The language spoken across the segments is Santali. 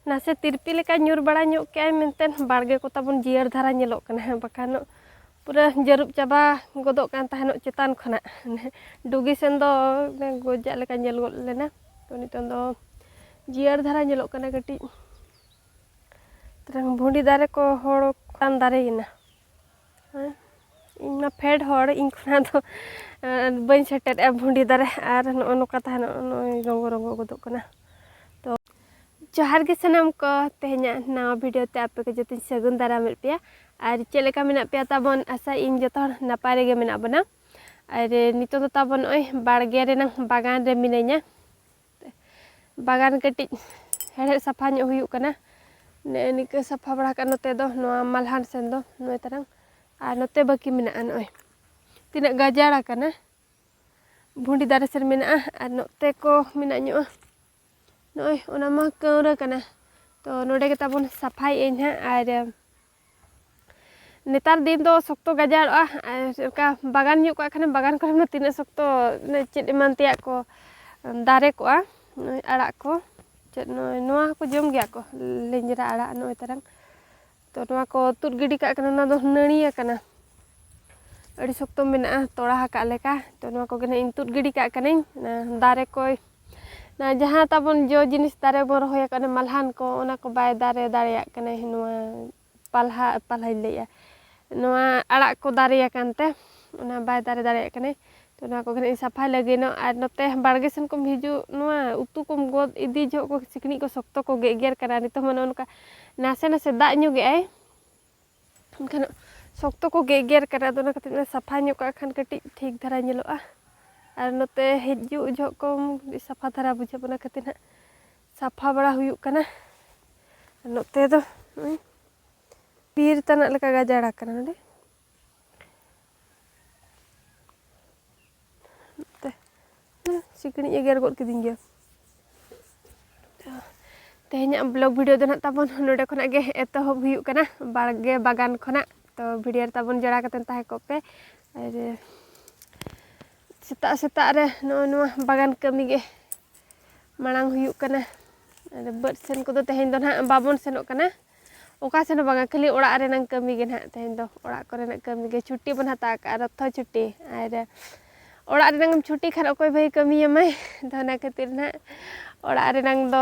ᱱᱟᱥᱮ ᱛᱤᱨᱯᱤ ᱞᱮᱠᱟ ᱧᱩᱨ ᱵᱟᱲᱟ ᱧᱚᱜ ᱠᱮᱜᱼᱟᱭ ᱢᱮᱱᱛᱮ ᱵᱟᱲᱜᱮ ᱠᱚ ᱛᱟᱵᱚᱱ ᱡᱤᱭᱟᱹᱲ ᱫᱷᱟᱨᱟ ᱧᱮᱞᱚᱜ ᱠᱟᱱᱟ ᱦᱮᱸ ᱵᱟᱠᱷᱟᱱ ᱯᱩᱨᱟᱹ ᱡᱟᱹᱨᱩᱵ ᱪᱟᱵᱟ ᱜᱚᱫᱚᱜ ᱠᱟᱱ ᱛᱟᱦᱮᱱᱚᱜ ᱪᱮᱛᱟᱱ ᱠᱷᱚᱱᱟᱜ ᱰᱩᱜᱤ ᱥᱮᱱ ᱫᱚ ᱜᱚᱡᱟᱜ ᱞᱮᱠᱟ ᱧᱮᱞ ᱜᱚᱫ ᱞᱮᱱᱟ ᱛᱚ ᱱᱤᱛᱚᱝ ᱫᱚ ᱡᱤᱭᱟᱹᱲ ᱫᱷᱟᱨᱟ ᱧᱮᱞᱚᱜ ᱠᱟᱱᱟ ᱠᱟᱹᱴᱤᱡ ᱛᱟᱨᱟᱝ ᱵᱷᱩᱸᱰᱤ ᱫᱟᱨᱮ ᱠᱚ ᱦᱚᱲ ᱠᱟᱱ ᱫᱟᱨᱮᱭᱮᱱᱟ ᱤᱧ ᱢᱟ ᱯᱷᱮᱰ ᱦᱚᱲ ᱤᱧ ᱠᱷᱚᱱᱟᱜ ᱫᱚ ᱵᱟᱹᱧ ᱥᱮᱴᱮᱨᱮᱜᱼᱟ ᱵᱷᱩᱸᱰᱤ ᱫᱟᱨᱮ ᱟᱨ ᱱᱚᱜᱼᱚ ᱱᱚᱝᱠᱟ ᱛᱟᱦᱮᱱᱚᱜ ᱱᱚᱜᱼᱚᱭ ᱨᱚᱸᱜᱚ ᱨᱚᱸᱜᱚ ᱜᱚᱫᱚᱜ ᱠᱟᱱᱟ ᱛᱚ ᱡᱚᱦᱟᱨ ᱜᱮ ᱥᱟᱱᱟᱢ ᱠᱚ ᱛᱮᱦᱮᱧᱟᱜ ᱱᱟᱣᱟ ᱵᱷᱤᱰᱤᱭᱳ ᱛᱮ ᱟᱯᱮ ᱠᱚ ᱡᱚᱛᱚᱧ ᱥᱟᱹᱜᱩᱱ ᱫᱟᱨᱟᱢᱮᱫ ᱯᱮᱭᱟ ᱟᱨ ᱪᱮᱫ ᱞᱮᱠᱟ ᱢᱮᱱᱟᱜ ᱯᱮᱭᱟ ᱛᱟᱵᱚᱱ ᱟᱥᱟ ᱤᱧ ᱡᱚᱛᱚ ᱦᱚᱲ ᱱᱟᱯᱟᱭ ᱨᱮᱜᱮ ᱢᱮᱱᱟᱜ ᱵᱚᱱᱟ ᱟᱨ ᱱᱤᱛᱚᱜ ᱫᱚ ᱛᱟᱵᱚᱱ ᱱᱚᱜᱼᱚᱭ ᱵᱟᱲᱜᱮ ᱨᱮᱱᱟᱝ ᱵᱟᱜᱟᱱ ᱨᱮ ᱢᱤᱱᱟᱹᱧᱟ ᱵᱟᱜᱟᱱ ᱠᱟᱹᱴᱤᱡ ᱦᱮᱲᱦᱮᱫ ᱥᱟᱯᱷᱟ ᱧᱚᱜ ᱦᱩᱭᱩᱜ ᱠᱟᱱᱟ ᱱᱮᱜᱼᱮ ᱱᱤᱝᱠᱟᱹ ᱥᱟᱯᱷᱟ ᱵᱟᱲᱟ ᱠᱟᱜᱼᱟ ᱱᱚᱛᱮ ᱫᱚ ᱱᱚᱣᱟ ᱢᱟᱞᱦᱟᱱ ᱥᱮᱱ ᱫᱚ ᱱᱚᱜᱼᱚᱭ ᱛᱟᱨᱟᱝ ᱟᱨ ᱱᱚᱛᱮ ᱵᱟᱹᱠᱤ ᱢᱮᱱᱟᱜᱼᱟ ᱱᱚᱜᱼᱚᱭ ᱛᱤᱱᱟᱹᱜ ᱜᱟᱡᱟᱲ ᱟᱠᱟᱱᱟ ᱵᱷᱩᱸᱰᱤ ᱫᱟᱨᱮ ᱥᱮᱱ ᱢᱮᱱᱟᱜᱼᱟ ᱟᱨ ᱱᱚᱛᱮ ᱠᱚ ᱢᱮᱱᱟᱜ ᱧᱚᱜᱼᱟ ᱱᱚᱜᱼᱚᱭ ᱚᱱᱟ ᱢᱟ ᱠᱟᱹᱣᱨᱟᱹ ᱠᱟᱱᱟ ᱛᱚ ᱱᱚᱰᱮ ᱜᱮ ᱛᱟᱵᱚᱱ ᱥᱟᱯᱷᱟᱭᱮᱜ ᱟᱹᱧ ᱦᱟᱸᱜ ᱟᱨ ᱱᱮᱛᱟᱨ ᱫᱤᱱ ᱫᱚ ᱥᱚᱠᱛᱚ ᱜᱟᱡᱟᱲᱚᱜᱼᱟ ᱚᱱᱠᱟ ᱵᱟᱜᱟᱱ ᱧᱚᱜ ᱠᱟᱜ ᱠᱷᱟᱱᱮᱢ ᱵᱟᱜᱟᱱ ᱠᱚᱨᱮ ᱢᱟ ᱛᱤᱱᱟᱹᱜ ᱥᱚᱠᱛᱚ ᱪᱮᱫ ᱮᱢᱟᱱ ᱛᱮᱭᱟᱜ ᱠᱚ ᱫᱟᱨᱮ ᱠᱚᱜᱼᱟ ᱱᱚᱜᱼᱚᱭ ᱟᱲᱟᱜ ᱠᱚ ᱪᱮᱫ ᱱᱚᱜᱼᱚᱭ ᱱᱚᱣᱟ ᱦᱚᱸᱠᱚ ᱡᱚᱢ ᱜᱮᱭᱟ ᱠᱚ ᱞᱮᱸᱡᱽᱨᱟ ᱟᱲᱟᱜ ᱱᱚᱜᱼᱚᱭ ᱛᱟᱨᱟᱝ ᱛᱚ ᱱᱚᱣᱟ ᱠᱚ ᱛᱩᱫ ᱜᱤᱰᱤ ᱠᱟᱜ ᱠᱟᱱᱟ ᱱᱚᱣᱟ ᱫᱚ ᱱᱟᱹᱲᱤ ᱟᱠᱟᱱᱟ ᱟᱹᱰᱤ ᱥᱚᱠᱛᱚ ᱢᱮᱱᱟᱜᱼᱟ ᱛᱚᱲᱟ ᱟᱠᱟᱫ ᱞᱮᱠᱟ ᱛᱚ ᱱᱚᱣᱟ ᱠᱚᱜᱮ ᱱᱟᱜ ᱤᱧ ᱛᱩᱫ ᱜᱤᱰᱤ ᱠᱟᱜ ᱠᱟᱹᱱᱟᱹᱧ ᱫᱟᱨᱮ ᱠᱚᱭ ᱱᱚᱣᱟ ᱡᱟᱦᱟᱸ ᱛᱟᱵᱚᱱ ᱡᱚ ᱡᱤᱱᱤᱥ ᱫᱟᱨᱮ ᱵᱚᱱ ᱨᱚᱦᱚᱭ ᱟᱠᱟᱫ ᱚᱱᱟ ᱢᱟᱞᱦᱟᱱ ᱠᱚ ᱚᱱᱟ ᱠᱚ ᱵᱟᱭ ᱫᱟᱨᱮ ᱫᱟᱲᱮᱭᱟᱜ ᱠᱟᱱᱟ ᱱᱚᱣᱟ ᱯᱟᱞᱦᱟ ᱯᱟᱞᱦᱟᱧ ᱞᱟᱹᱭᱮᱜᱼᱟ ᱱᱚᱣᱟ ᱟᱲᱟᱜ ᱠᱚ ᱫᱟᱨᱮ ᱟᱠᱟᱱ ᱛᱮ ᱚᱱᱟ ᱵᱟᱭ ᱫᱟᱨᱮ ᱫᱟᱲᱮᱭᱟᱜ ᱠᱟᱱᱟᱭ ᱛᱚ ᱱᱚᱣᱟ ᱠᱚ ᱠᱟᱹᱴᱤᱡ ᱤᱧ ᱥᱟᱯᱷᱟᱭ ᱞᱟᱹᱜᱤᱫ ᱱᱚᱜ ᱟᱨ ᱱᱚᱛᱮ ᱵᱟᱲᱜᱮ ᱥᱮᱱ ᱠᱷᱚᱱ ᱦᱤᱡᱩᱜ ᱱᱚᱣᱟ ᱩᱛᱩ ᱠᱚᱢ ᱜᱚᱫ ᱤᱫᱤ ᱡᱚᱦᱚᱜ ᱠᱚ ᱥᱤᱠᱬᱤᱡ ᱠᱚ ᱥᱚᱠᱛᱚ ᱠᱚ ᱜᱮᱜᱮᱨ ᱠᱟᱱᱟ ᱱᱤᱛᱚᱜ ᱢᱟ ᱱᱚᱜᱼᱚ ᱱᱚᱝᱠᱟ ᱱᱟᱥᱮ ᱱᱟᱥᱮ ᱫᱟᱜ ᱧᱚᱜᱮᱜ ᱟᱭ ᱮᱱᱠᱷᱟᱱ ᱥᱚᱠᱛᱚ ᱠᱚ ᱜᱮᱜᱮᱨ ᱠᱟᱱᱟ ᱟᱫᱚ ᱚᱱᱟ ᱠᱷᱟᱹᱛᱤᱨ ᱛᱮ ᱥᱟᱯᱷᱟ ᱧᱚᱜ ᱠᱟᱜ ᱠᱷᱟᱱ ᱠᱟᱹᱴᱤᱡ ᱴᱷᱤᱠ ᱫᱷᱟᱨᱟ ᱧᱮᱞᱚᱜᱼᱟ ᱟᱨ ᱱᱚᱛᱮ ᱦᱤᱡᱩᱜ ᱡᱚᱦᱚᱜ ᱠᱚ ᱥᱟᱯᱷᱟ ᱫᱷᱟᱨᱟ ᱵᱩᱡᱷᱟᱹᱜ ᱚᱱᱟ ᱠᱷᱟᱹᱛᱤᱨ ᱦᱟᱸᱜ ᱥᱟᱯᱷᱟ ᱵᱟᱲᱟ ᱦᱩᱭᱩᱜ ᱠᱟᱱᱟ ᱱᱚᱛᱮ ᱫᱚ ᱵᱤᱨ ᱛᱟᱱᱟᱜ ᱞᱮᱠᱟ ᱜᱟᱡᱟᱲ ᱟᱠᱟᱱᱟ ᱱᱚᱰᱮ ᱥᱤᱠᱲᱤᱡ ᱮ ᱜᱮᱨ ᱜᱚᱫ ᱠᱤᱫᱤᱧ ᱜᱮᱭᱟ ᱛᱮᱦᱮᱧᱟᱜ ᱵᱞᱚᱜ ᱵᱷᱤᱰᱤᱭᱳ ᱫᱚ ᱱᱟᱜ ᱛᱟᱵᱚᱱ ᱱᱚᱰᱮ ᱠᱷᱚᱱᱟᱜ ᱜᱮ ᱮᱛᱚᱦᱚᱵ ᱦᱩᱭᱩᱜ ᱠᱟᱱᱟ ᱵᱟᱲᱜᱮ ᱵᱟᱜᱟᱱ ᱠᱷᱚᱱᱟᱜ ᱛᱚ ᱵᱷᱤᱰᱤᱭᱳ ᱨᱮ ᱛᱟᱵᱚᱱ ᱡᱚᱲᱟ ᱠᱟᱛᱮ ᱛᱟᱦᱮᱸ ᱠᱚᱜ ᱯᱮ ᱟᱨ ᱥᱮᱛᱟᱜ ᱥᱮᱛᱟᱜ ᱨᱮ ᱱᱚᱜᱼᱚ ᱱᱚᱣᱟ ᱵᱟᱜᱟᱱ ᱠᱟᱹᱢᱤ ᱜᱮ ᱢᱟᱲᱟᱝ ᱦᱩᱭᱩᱜ ᱠᱟᱱᱟ ᱟᱨ ᱵᱟᱹᱫᱽ ᱥᱮᱱ ᱠᱚᱫᱚ ᱛᱮᱦᱮᱧ ᱫᱚ ᱱᱟᱜ ᱵᱟᱵᱚᱱ ᱥᱮᱱᱚᱜ ᱠᱟᱱᱟ ᱚᱠᱟ ᱥᱮᱱ ᱦᱚᱸ ᱵᱟᱝᱟ ᱠᱷᱟᱹᱞᱤ ᱚᱲᱟᱜ ᱨᱮᱱᱟᱝ ᱠᱟᱹᱢᱤ ᱜᱮ ᱱᱟᱦᱟᱜ ᱛᱮᱦᱮᱧ ᱫᱚ ᱚᱲᱟᱜ ᱠᱚᱨᱮᱱᱟᱜ ᱠᱟᱹᱢᱤ ᱜᱮ ᱪᱷᱩᱴᱤ ᱵᱚᱱ ᱦᱟᱛᱟᱣ ᱟᱠᱟᱫᱼᱟ ᱨᱚᱛᱷᱚ ᱪᱷᱩᱴᱤ ᱟᱨ ᱚᱲᱟᱜ ᱨᱮᱱᱟᱝ ᱪᱷᱩᱴᱤ ᱠᱷᱟᱱ ᱚᱠᱚᱭ ᱵᱷᱟᱹᱭ ᱠᱟᱹᱢᱤᱭᱟᱢᱟᱭ ᱟᱫᱚ ᱚᱱᱟ ᱠᱷᱟᱹᱛᱤᱨ ᱱᱟᱦᱟᱜ ᱚᱲᱟᱜ ᱨᱮᱱᱟᱝ ᱫᱚ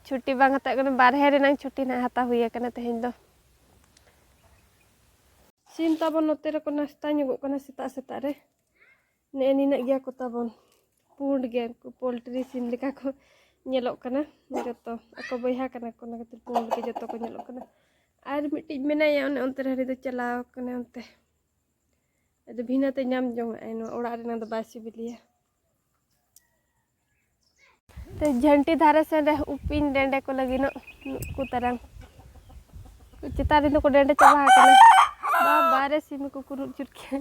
ᱪᱷᱩᱴᱤ ᱵᱟᱝ ᱦᱟᱛᱟᱣ ᱠᱟᱱᱟ ᱵᱟᱨᱦᱮ ᱨᱮᱱᱟᱝ ᱪᱷᱩᱴᱤ ᱱᱟᱦᱟᱜ ᱦᱟᱛᱟᱣ ᱦᱩᱭ ᱟᱠᱟᱱᱟ ᱛᱮᱦᱮᱧ ᱫᱚ ᱥᱤᱢ ᱛᱟᱵᱚᱱ ᱱᱚᱛᱮ ᱨᱮᱠᱚ ᱱᱟᱥᱛᱟ ᱧᱚᱜᱚᱜ ᱠᱟᱱᱟ ᱥᱮᱛᱟᱜ ᱥᱮᱛᱟᱜ ᱨᱮ ᱱᱮᱜᱼᱮ ᱱᱤᱱᱟᱹᱜ ᱜᱮᱭᱟ ᱠᱚ ᱛᱟᱵᱚᱱ ᱯᱩᱸᱰ ᱜᱮ ᱩᱱᱠᱩ ᱯᱳᱞᱴᱨᱤ ᱥᱤᱢ ᱞᱮᱠᱟ ᱠᱚ ᱧᱮᱞᱚᱜ ᱠᱟᱱᱟ ᱡᱚᱛᱚ ᱟᱠᱚ ᱵᱚᱭᱦᱟ ᱠᱟᱱᱟ ᱠᱚ ᱚᱱᱟ ᱠᱷᱟᱹᱛᱤᱨ ᱯᱩᱸᱰ ᱜᱮ ᱡᱚᱛᱚ ᱠᱚ ᱧᱮᱞᱚᱜ ᱠᱟᱱᱟ ᱟᱨ ᱢᱤᱫᱴᱤᱡ ᱢᱮᱱᱟᱭᱟ ᱚᱱᱮ ᱚᱱᱛᱮ ᱨᱮ ᱦᱟᱹᱱᱤ ᱫᱚ ᱪᱟᱞᱟᱣ ᱠᱟᱱᱟ ᱚᱱᱛᱮ ᱟᱫᱚ ᱵᱷᱤᱱᱟᱹᱛᱮ ᱧᱟᱢ ᱡᱚᱝᱟᱜᱼᱟᱭ ᱱᱚᱣᱟ ᱚᱲᱟᱜ ᱨᱮᱱᱟᱜ ᱫᱚ ᱵᱟᱭ ᱥᱤᱵᱤᱞᱮᱭᱟ ᱡᱷᱟᱹᱱᱴᱤ ᱫᱷᱟᱨᱮ ᱥᱮᱱ ᱨᱮ ᱩᱯᱤᱧ ᱰᱮᱸᱰᱮ ᱠᱚ ᱞᱟᱹᱜᱤᱫᱚᱜ ᱱᱩᱠᱩ ᱛᱟᱨᱟᱝ ᱪᱮᱛᱟᱱ ᱨᱮᱫᱚ ᱠᱚ ᱰᱮᱸᱰᱮ ᱪᱟᱵᱟ ᱟᱠᱟᱱᱟ ᱵᱟᱨᱮ ᱥᱤᱢ ᱠᱚ ᱠᱩᱨᱩᱫ ᱪᱩᱨ ᱠᱮᱫᱟ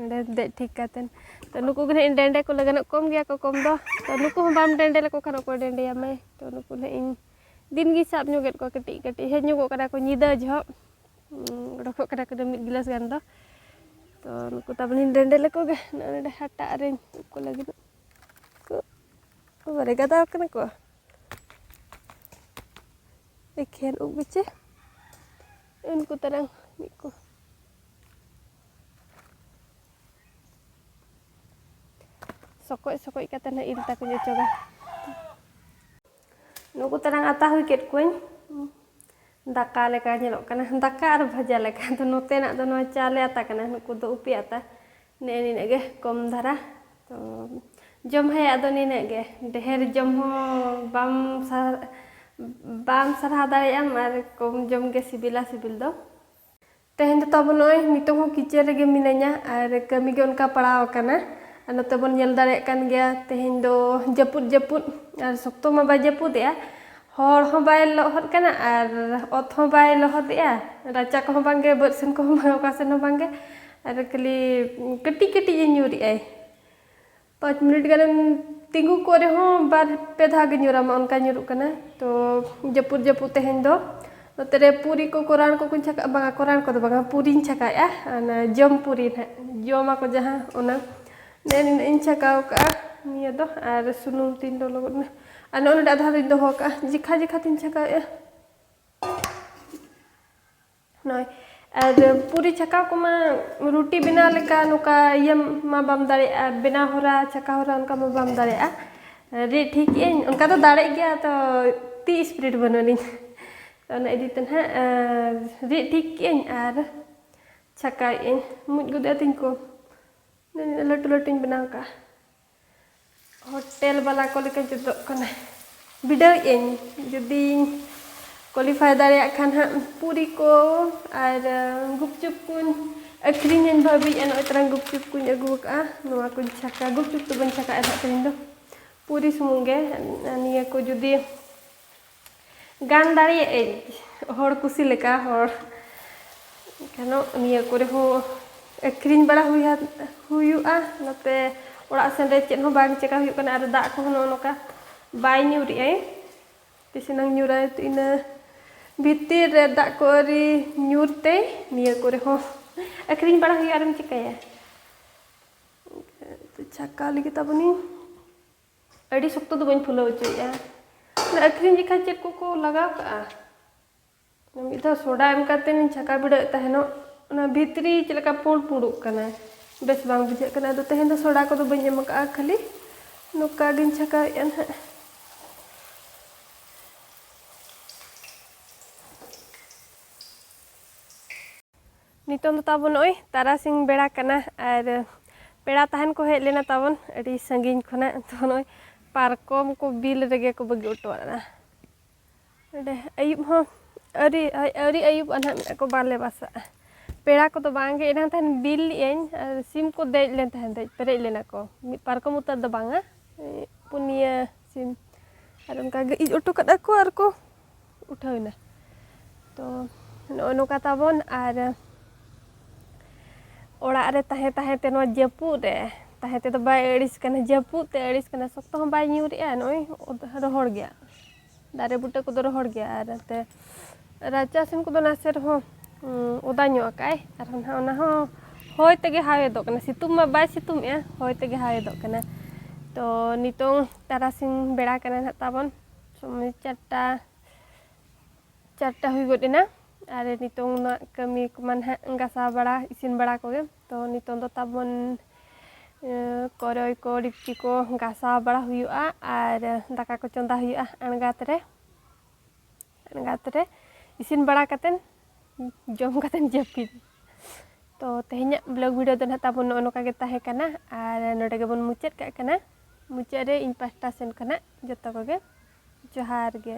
ᱱᱚᱰᱮ ᱫᱮᱡ ᱴᱷᱤᱠ ᱠᱟᱛᱮᱱ ᱛᱚ ᱱᱩᱠᱩ ᱜᱮ ᱱᱟᱦᱟᱜ ᱤᱧ ᱰᱮᱸᱰᱮ ᱠᱚ ᱞᱟᱹᱜᱤᱫᱚᱜ ᱠᱚᱢ ᱜᱮᱭᱟ ᱠᱚ ᱠᱚᱢ ᱫᱚ ᱛᱚ ᱱᱩᱠᱩ ᱦᱚᱸ ᱵᱟᱢ ᱰᱮᱸᱰᱮ ᱞᱮᱠᱚ ᱠᱷᱟᱱ ᱚᱠᱚᱭ ᱰᱮᱸᱰᱮᱭᱟᱢᱟᱭ ᱛᱚ ᱱᱩᱠᱩ ᱱᱟᱦᱟᱜ ᱤᱧ ᱫᱤᱱ ᱜᱮ ᱥᱟᱵ ᱧᱚᱜᱮᱫ ᱠᱚᱣᱟ ᱠᱟᱹᱴᱤᱡ ᱠᱟᱹᱴᱤᱡ ᱦᱮᱡ ᱧᱚᱜᱚᱜ ᱠᱟᱱᱟ ᱠᱚ ᱧᱤᱫᱟᱹ ᱡᱚᱦᱚᱜ ᱚᱰᱚᱠᱚᱜ ᱠᱟᱱᱟ ᱠᱚ ᱢᱤᱫ ᱜᱤᱞᱟᱹᱥ ᱜᱟᱱ ᱫᱚ ᱛᱚ ᱱᱩᱠᱩ ᱛᱟᱵᱚᱱᱤᱧ ᱰᱮᱸᱰᱮ ᱞᱮᱠᱚ ᱜᱮ ᱱᱚᱜᱼᱚᱭ ᱱᱚᱰᱮ ᱦᱟᱴᱟᱜ ᱨᱮᱧ ᱩᱵ ᱠᱚ ᱞᱟᱹᱜᱤᱫ ᱵᱟᱨᱮ ᱜᱟᱫᱟᱣ ᱠᱟᱱᱟ ᱠᱚ ᱮᱠᱷᱮᱱ ᱩᱵ ᱜᱮᱪᱮ ᱩᱱᱠᱩ ᱛᱟᱨᱟᱝ ᱢᱤᱫ ᱠᱚ ᱥᱚᱠᱚᱡ ᱥᱚᱠᱚᱡ ᱠᱟᱛᱮ ᱱᱟᱜ ᱤᱞ ᱛᱟᱠᱚᱧ ᱚᱪᱚᱜᱟ ᱱᱩᱠᱩ ᱛᱟᱨᱟᱝ ᱟᱛᱟ ᱦᱩᱭ ᱠᱮᱫ ᱠᱚᱣᱟᱹᱧ ᱫᱟᱠᱟ ᱞᱮᱠᱟ ᱧᱮᱞᱚᱜ ᱠᱟᱱᱟ ᱫᱟᱠᱟ ᱟᱨ ᱵᱷᱟᱡᱟ ᱞᱮᱠᱟ ᱫᱚ ᱱᱚᱛᱮᱱᱟᱜ ᱫᱚ ᱱᱚᱣᱟ ᱪᱟᱣᱞᱮ ᱟᱛᱟ ᱠᱟᱱᱟ ᱱᱩᱠᱩ ᱫᱚ ᱩᱯᱤ ᱟᱛᱟ ᱱᱮ ᱱᱤᱱᱟᱹᱜ ᱜᱮ ᱠᱚᱢ ᱫᱷᱟᱨᱟ ᱛᱚ ᱡᱚᱢ ᱦᱮᱭᱟᱜ ᱫᱚ ᱱᱤᱱᱟᱹᱜ ᱜᱮ ᱰᱷᱮᱨ ᱡᱚᱢ ᱦᱚᱸ ᱵᱟᱢ ᱥᱟᱦᱟᱣ ᱵᱟᱢ ᱥᱟᱨᱦᱟᱣ ᱫᱟᱲᱮᱭᱟᱜᱼᱟᱢ ᱟᱨ ᱠᱚᱢ ᱡᱚᱢ ᱜᱮ ᱥᱤᱵᱤᱞᱟ ᱥᱤᱵᱤᱞ ᱫᱚ ᱛᱮᱦᱮᱧ ᱫᱚ ᱛᱟᱵᱚᱱ ᱱᱚᱜᱼᱚᱭ ᱱᱤᱛᱚᱜ ᱦᱚᱸ ᱠᱤᱪᱮᱱ ᱨᱮᱜᱮ ᱢᱤᱱᱟᱹᱧᱟ ᱟᱨ ᱠᱟᱹᱢᱤ ᱜᱮ ᱚᱱᱠᱟ ᱯᱟᱲᱟᱣ ᱟᱠᱟᱱᱟ ᱟᱨ ᱱᱚᱛᱮ ᱵᱚᱱ ᱧᱮᱞ ᱫᱟᱲᱮᱭᱟᱜ ᱠᱟᱱ ᱜᱮᱭᱟ ᱛᱮᱦᱮᱧ ᱫᱚ ᱡᱟᱹᱯᱩᱫ ᱡᱟᱹᱯᱩᱫ ᱟᱨ ᱥᱚᱠᱛᱚ ᱢᱟ ᱵᱟᱭ ᱡᱟᱹᱯᱩᱫᱮᱜᱼᱟ ᱦᱚᱲ ᱦᱚᱸ ᱵᱟᱭ ᱞᱚᱦᱚᱫ ᱠᱟᱱᱟ ᱟᱨ ᱚᱛ ᱦᱚᱸ ᱵᱟᱭ ᱞᱚᱦᱚᱫᱮᱜᱼᱟ ᱨᱟᱪᱟ ᱠᱚᱦᱚᱸ ᱵᱟᱝ ᱜᱮ ᱵᱟᱹᱫᱽ ᱥᱮᱱ ᱠᱚᱦᱚᱸ ᱵᱟᱝ ᱚᱠᱟ ᱥᱮᱱ ᱦᱚᱸ ᱵᱟᱝ ᱜᱮ ᱟᱨ ᱠᱷᱟᱹᱞᱤ ᱠᱟᱹᱴᱤᱡ ᱠᱟᱹᱴᱤᱡ ᱮ ᱧᱩᱨᱮᱜᱼᱟᱭ ᱯᱟᱸᱪ ᱢᱤᱱᱤᱴ ᱜᱟᱱᱮᱢ ᱛᱤᱸᱜᱩ ᱠᱚᱜ ᱨᱮᱦᱚᱸ ᱵᱟᱨ ᱯᱮ ᱫᱷᱟᱣ ᱜᱮ ᱧᱩᱨᱟᱢᱟ ᱚᱱᱠᱟ ᱧᱩᱨᱩᱜ ᱠᱟᱱᱟ ᱛᱚ ᱡᱟᱹᱯᱩᱫ ᱡᱟᱹᱯᱩᱫ ᱛᱮᱦᱮᱧ ᱫᱚ ᱱᱚᱛᱮ ᱨᱮ ᱯᱩᱨᱤ ᱠᱚ ᱠᱚᱨᱟᱱ ᱠᱚᱠᱚᱧ ᱪᱷᱟᱠᱟᱜᱼᱟ ᱵᱟᱝᱟ ᱠᱚᱨᱟᱱ ᱠᱚᱫᱚ ᱵᱟᱝᱟ ᱯᱩᱨᱤᱧ ᱪᱷᱟᱠᱟᱭᱮᱜᱼᱟ ᱚᱱᱟ ᱡᱚᱢ ᱯᱩᱨᱤ ᱱᱟᱦᱟᱜ ᱡᱚᱢᱟᱠᱚ ᱡᱟᱦᱟᱸ ᱚᱱᱟ ᱱᱮ ᱱᱤᱱᱟᱹᱜ ᱤᱧ ᱪᱷᱟᱠᱟᱣ ᱠᱟᱜᱼᱟ ᱱᱤᱭᱟᱹ ᱫᱚ ᱟᱨ ᱥᱩᱱᱩᱢ ᱛᱤᱧ ᱞᱚᱞᱚ ᱜᱚᱫ ᱮᱱᱟ ᱟᱨ ᱱᱚᱜᱼᱚ ᱱᱚᱰᱮ ᱟᱫᱷᱟ ᱫᱚᱧ ᱫᱚᱦᱚ ᱠᱟᱜᱼᱟ ᱡᱮᱠᱷᱟ ᱡᱮᱠᱷᱟ ᱛᱤᱧ ᱪᱷᱟᱠᱟᱣᱮᱜᱼᱟ ᱱᱚᱜᱼᱚᱭ ᱟᱨ ᱯᱩᱨᱤ ᱪᱷᱟᱠᱟᱣ ᱠᱚᱢᱟ ᱨᱩᱴᱤ ᱵᱮᱱᱟᱣ ᱞᱮᱠᱟ ᱱᱚᱝᱠᱟ ᱤᱭᱟᱹ ᱢᱟ ᱵᱟᱢ ᱫᱟᱲᱮᱭᱟᱜᱼᱟ ᱵᱮᱱᱟᱣ ᱦᱚᱨᱟ ᱪᱷᱟᱠᱟᱣ ᱦᱚᱨᱟ ᱚᱱᱠᱟ ᱢᱟ ᱵᱟᱢ ᱫᱟᱲᱮᱭᱟᱜᱼᱟ ᱨᱤᱫ ᱴᱷᱤᱠ ᱟᱹᱧ ᱚᱱᱠᱟ ᱫᱚ ᱫᱟᱲᱮᱜ ᱜᱮᱭᱟ ᱛᱚ ᱛᱤ ᱤᱥᱯᱤᱨᱤᱰ ᱵᱟᱹᱱᱩᱜ ᱟᱹᱱᱤᱡ ᱚᱱᱟ ᱤᱫᱤ ᱛᱮ ᱱᱟᱦᱟᱜ ᱨᱤᱫ ᱴᱷᱤᱠ ᱠᱮᱜ ᱟᱹᱧ ᱟᱨ ᱪᱷᱟᱠᱟᱣᱮᱜ ᱟᱹᱧ ᱢᱩᱡ ᱜᱚᱫᱚᱜ ᱛᱤᱧ ᱠᱚ ᱞᱟᱹᱴᱩ ᱞᱟᱹᱴᱩᱧ ᱵᱮᱱᱟᱣ ᱠᱟᱜᱼᱟ ᱦᱳᱴᱮᱞ ᱵᱟᱞᱟ ᱠᱚ ᱞᱮᱠᱟ ᱡᱩᱛᱚᱜ ᱠᱟᱱᱟ ᱵᱤᱰᱟᱹᱣᱮᱫ ᱟᱹᱧ ᱡᱩᱫᱤᱧ ᱠᱳᱣᱟᱞᱤᱯᱷᱟᱭ ᱫᱟᱲᱮᱭᱟᱜ ᱠᱷᱟᱱ ᱦᱟᱸᱜ ᱯᱩᱨᱤ ᱠᱚ ᱟᱨ ᱜᱩᱯᱪᱩᱯ ᱠᱚᱧ ᱟᱹᱠᱷᱨᱤᱧᱟᱹᱧ ᱵᱷᱟᱹᱵᱤᱭᱮᱫᱼᱟ ᱱᱚᱜᱼᱚᱭ ᱛᱟᱨᱟᱝ ᱜᱩᱯᱪᱩᱯ ᱠᱚᱧ ᱟᱹᱜᱩ ᱟᱠᱟᱫᱼᱟ ᱱᱚᱣᱟ ᱠᱚᱧ ᱪᱷᱟᱠᱟ ᱜᱩᱯᱪᱩᱯ ᱫᱚ ᱵᱟᱹᱧ ᱪᱷᱟᱠᱟᱭᱟ ᱦᱟᱸᱜ ᱛᱮᱦᱮᱧ ᱫᱚ ᱯᱩᱨᱤ ᱥᱩᱢᱩᱝ ᱜᱮ ᱱᱤᱭᱟᱹ ᱠᱚ ᱡᱩᱫᱤ ᱜᱟᱱ ᱫᱟᱲᱮᱭᱟᱜ ᱟᱹᱧ ᱦᱚᱲ ᱠᱩᱥᱤ ᱞᱮᱠᱟ ᱦᱚᱲ ᱠᱟᱱᱚ ᱱᱤᱭᱟᱹ ᱠᱚᱨᱮ ᱦᱚᱸ ᱟᱹᱠᱷᱨᱤᱧ ᱵᱟᱲᱟ ᱦᱩᱭᱟ ᱦᱩᱭᱩᱜᱼᱟ ᱱᱚᱛᱮ ᱚᱲᱟᱜ ᱥᱮᱱ ᱨᱮ ᱪᱮᱫ ᱦᱚᱸ ᱵᱟᱝ ᱪᱮᱠᱟ ᱦᱩᱭᱩᱜ ᱠᱟᱱᱟ ᱟᱨ ᱫᱟᱜ ᱠᱚᱦᱚᱸ ᱱᱚᱜᱼᱚ ᱱᱚᱝᱠᱟ ᱵᱟᱭ ᱧᱩᱨᱮᱜᱼᱟᱭ ᱛᱤᱥ ᱮᱱᱟᱝ ᱧᱩᱨᱟᱭ ᱛᱚ ᱤᱱᱟᱹ ᱵᱷᱤᱛᱤᱨ ᱨᱮ ᱫᱟᱜ ᱠᱚ ᱟᱹᱣᱨᱤ ᱧᱩᱨ ᱛᱮ ᱱᱤᱭᱟᱹ ᱠᱚᱨᱮ ᱦᱚᱸ ᱟᱹᱠᱷᱨᱤᱧ ᱵᱟᱲᱟ ᱦᱩᱭᱩᱜᱼᱟ ᱟᱨᱮᱢ ᱪᱮᱠᱟᱭᱟ ᱪᱷᱟᱠᱟᱣ ᱞᱟᱹᱜᱤᱫ ᱛᱟᱵᱚᱱᱤᱧ ᱟᱹᱰᱤ ᱥᱚᱠᱛᱚ ᱫᱚ ᱵᱟᱹᱧ ᱯᱷᱩᱞᱟᱹᱣ ᱦᱚᱪᱚᱭᱮᱫᱼᱟ ᱚᱱᱟ ᱟᱹᱠᱷᱨᱤᱧ ᱡᱚᱠᱷᱟᱡ ᱪᱮᱫ ᱠᱚᱠᱚ ᱞᱟᱜᱟᱣ ᱠᱟᱜᱼᱟ ᱢᱤᱫ ᱫᱷᱟᱣ ᱥᱳᱰᱟ ᱮᱢ ᱠᱟᱛᱮᱧ ᱪᱷᱟᱠᱟ ᱵᱤᱲᱟᱹᱣᱮᱫ ᱛᱟᱦᱮᱱᱚᱜ ᱚᱱᱟ ᱵᱷᱤᱛᱨᱤ ᱪᱮᱫ ᱞᱮᱠᱟ ᱯᱩᱸᱰ ᱯᱩᱸᱰᱚᱜ ᱠᱟᱱᱟ ᱵᱮᱥ ᱵᱟᱝ ᱵᱩᱡᱷᱟᱹᱜ ᱠᱟᱱᱟ ᱟᱫᱚ ᱛᱮᱦᱮᱧ ᱫᱚ ᱥᱳᱰᱟ ᱠᱚᱫᱚ ᱵᱟᱹᱧ ᱮᱢ ᱠᱟᱜᱼᱟ ᱠᱷᱟᱹᱞᱤ ᱱᱚᱝᱠᱟ ᱜᱤᱧ ᱪᱷᱟᱠᱟᱣᱮᱫᱼᱟ ᱱᱟᱦᱟᱜ ᱱᱤᱛᱚᱝ ᱫᱚ ᱛᱟᱵᱚᱱ ᱱᱚᱜᱼᱚᱭ ᱛᱟᱨᱟᱥᱤᱧ ᱵᱮᱲᱟ ᱠᱟᱱᱟ ᱟᱨ ᱯᱮᱲᱟ ᱛᱟᱦᱮᱱ ᱠᱚ ᱦᱮᱡ ᱞᱮᱱᱟ ᱛᱟᱵᱚᱱ ᱟᱹᱰᱤ ᱥᱟᱺᱜᱤᱧ ᱠᱷᱚᱱᱟᱜ ᱛᱚ ᱱᱚᱜᱼᱚᱭ ᱯᱟᱨᱠᱚᱢ ᱠᱚ ᱵᱤᱞ ᱨᱮᱜᱮ ᱠᱚ ᱵᱟᱹᱜᱤ ᱦᱚᱴᱚ ᱟᱫᱟ ᱱᱚᱰᱮ ᱟᱹᱭᱩᱵ ᱦᱚᱸ ᱟᱹᱣᱨᱤ ᱟᱹᱣᱨᱤ ᱟᱹᱭᱩᱵ ᱟᱱᱟᱜ ᱢᱮᱱᱟᱜ ᱠᱚ ᱵᱟᱞᱮ ᱵᱟᱥᱟᱜᱼᱟ ᱯᱮᱲᱟ ᱠᱚᱫᱚ ᱵᱟᱝᱜᱮ ᱮᱱᱟᱝ ᱛᱟᱦᱮᱱ ᱵᱤᱞ ᱞᱮᱜᱼᱟᱹᱧ ᱟᱨ ᱥᱤᱢ ᱠᱚ ᱫᱮᱡ ᱞᱮᱱ ᱛᱟᱦᱮᱸᱫ ᱫᱮᱡ ᱯᱮᱨᱮᱡ ᱞᱮᱱᱟ ᱠᱚ ᱢᱤᱫ ᱯᱟᱨᱠᱚᱢ ᱩᱛᱟᱹᱨ ᱫᱚ ᱵᱟᱝᱟ ᱯᱩᱱᱭᱟᱹ ᱥᱤᱢ ᱟᱨ ᱚᱱᱠᱟᱜᱮ ᱤᱡ ᱦᱚᱴᱚ ᱠᱟᱫᱟ ᱠᱚ ᱟᱨ ᱠᱚ ᱩᱴᱷᱟᱹᱣ ᱮᱱᱟ ᱛᱚ ᱱᱚᱜᱼᱚ ᱱᱚᱝᱠᱟ ᱛᱟᱵᱚᱱ ᱟᱨ ᱚᱲᱟᱜ ᱨᱮ ᱛᱟᱦᱮᱸ ᱛᱟᱦᱮᱸ ᱛᱮ ᱱᱚᱣᱟ ᱡᱟᱹᱯᱩᱫ ᱨᱮ ᱛᱟᱦᱮᱸ ᱛᱮᱫᱚ ᱵᱟᱭ ᱟᱹᱲᱤᱥ ᱠᱟᱱᱟ ᱡᱟᱹᱯᱩᱫ ᱛᱮ ᱟᱹᱲᱤᱥ ᱠᱟᱱᱟ ᱥᱚᱠᱛᱚ ᱦᱚᱸ ᱵᱟᱭ ᱧᱩᱨᱮᱜᱼᱟ ᱱᱚᱜᱼᱚᱭ ᱨᱚᱦᱚᱲ ᱜᱮᱭᱟ ᱫᱟᱨᱮ ᱵᱩᱴᱟᱹ ᱠᱚᱫᱚ ᱨᱚᱦᱚᱲ ᱜᱮᱭᱟ ᱟᱨ ᱱᱚᱛᱮ ᱨᱟᱪᱟ ᱥᱮᱱ ᱠᱚᱫᱚ ᱱᱟᱥᱮ ᱨᱮᱦᱚᱸ ᱚᱫᱟ ᱧᱚᱜ ᱟᱠᱟᱫᱼᱟᱭ ᱟᱨᱦᱚᱸ ᱱᱟᱦᱟᱜ ᱚᱱᱟ ᱦᱚᱸ ᱦᱚᱭ ᱛᱮᱜᱮ ᱦᱟᱣᱮᱫᱚᱜ ᱠᱟᱱᱟ ᱥᱤᱛᱩᱝ ᱢᱟ ᱵᱟᱭ ᱥᱤᱛᱩᱝᱮᱜᱼᱟ ᱦᱚᱭ ᱛᱮᱜᱮ ᱦᱟᱣᱮᱫᱚᱜ ᱠᱟᱱᱟ ᱛᱚ ᱱᱤᱛᱚᱝ ᱛᱟᱨᱟᱥᱤᱧ ᱵᱮᱲᱟ ᱠᱟᱱᱟ ᱱᱟᱦᱟᱜ ᱛᱟᱵᱚᱱ ᱥᱚᱢᱚᱭ ᱪᱟᱨᱴᱟ ᱪᱟᱨᱴᱟ ᱦᱩᱭ ᱜᱚᱫ ᱮᱱᱟ ᱟᱨ ᱱᱤᱛᱚᱝ ᱢᱟ ᱠᱟᱹᱢᱤ ᱠᱚᱢᱟ ᱱᱟᱦᱟᱜ ᱜᱟᱥᱟᱣ ᱵᱟᱲᱟ ᱤᱥᱤᱱ ᱵᱟᱲᱟ ᱠᱚᱜᱮ ᱛᱚ ᱱᱤᱛᱚᱝ ᱫᱚ ᱛᱟᱵᱚᱱ ᱠᱚᱨᱚᱭ ᱠᱚ ᱰᱮᱠᱪᱤ ᱠᱚ ᱜᱟᱥᱟᱣ ᱵᱟᱲᱟ ᱦᱩᱭᱩᱜᱼᱟ ᱟᱨ ᱫᱟᱠᱟ ᱠᱚ ᱪᱚᱸᱫᱟ ᱦᱩᱭᱩᱜᱼᱟ ᱟᱬᱜᱟᱛ ᱨᱮ ᱟᱬᱜᱟᱛ ᱨᱮ ᱤᱥᱤᱱ ᱵᱟᱲᱟ ᱠᱟᱛᱮᱫ ᱡᱚᱢ ᱠᱟᱛᱮᱢ ᱡᱟᱹᱯᱤᱫ ᱛᱚ ᱛᱮᱦᱮᱧᱟᱜ ᱵᱞᱚᱜ ᱵᱷᱤᱰᱤᱭᱳ ᱫᱚ ᱱᱟᱦᱟᱜ ᱛᱟᱵᱚᱱ ᱱᱚᱜᱼᱚ ᱱᱚᱝᱠᱟ ᱜᱮ ᱛᱟᱦᱮᱸ ᱠᱟᱱᱟ ᱟᱨ ᱱᱚᱰᱮ ᱜᱮᱵᱚᱱ ᱢᱩᱪᱟᱹᱫ ᱠᱟᱜ ᱠᱟᱱᱟ ᱢᱩᱪᱟᱹᱫ ᱨᱮ ᱤᱧ ᱯᱟᱥᱴᱟ ᱥᱮᱱ ᱠᱷᱚᱱᱟᱜ ᱡᱚᱛᱚ ᱠᱚᱜᱮ ᱡᱚᱦᱟᱨ ᱜᱮ